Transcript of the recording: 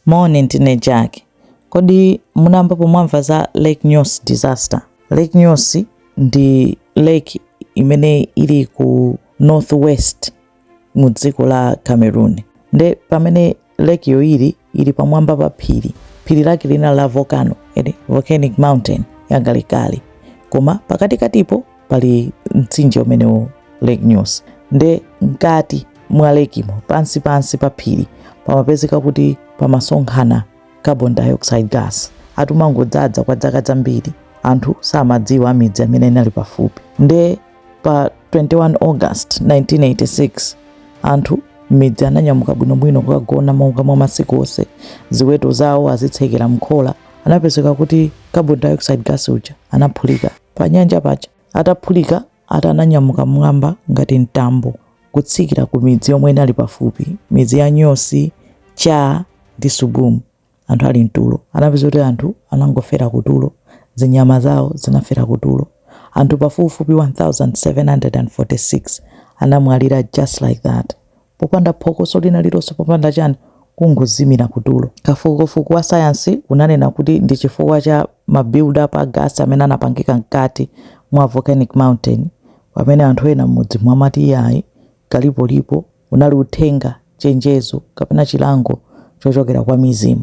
Moni, ndine Jack. Kodi munayambapo mwamva za Lake Nyos disaster? Lake Nyos ndi lake imene ili ku northwest mu dziko la Cameroon. Nde pamene lake yo ili ili pamwamba pa phiri, phiri lake lina la volcano, ndi volcanic mountain yakalekale, koma pakatikatipo pali mtsinje umenewo Lake Nyos nde mkati mwa lake imo pansi pansi pa phiri pamapezeka kuti pamasonkhana carbon dioxide gas atumangodzadza kwa dzaka dzambiri anthu samadziwa a midzi amene inali pafupi nde pa 21 august 1986 anthu midzi ananyamuka bwinobwino kukagona monga mwa masiku onse ziweto zawo azitsekera mkhola anapezeka kuti carbon dioxide gas uja anaphulika panyanja paja ataphulika ati ananyamuka mwamba ngati mtambo kutsikira ku midzi yomwe inali pafupi midzi ya Nyos Cha ndi Subum anthu ali mtulo anapeza kuti anthu anangofera kutulo zinyama zawo zinafera kutulo anthu pafupifupi 1746 anamwalira just like that Popanda phokoso lina lilonse, popanda chani, kungozimira kutulo. Kafukufuku wa sayansi unanena kuti ndi chifukwa cha ma build up a gas amene anapangika mkati mwa volcanic mountain. Pamene anthu ena mmudzimo amati iyayi, kalipolipo, unali uthenga, chenjezo kapena chilango chochokera kwa mizimu.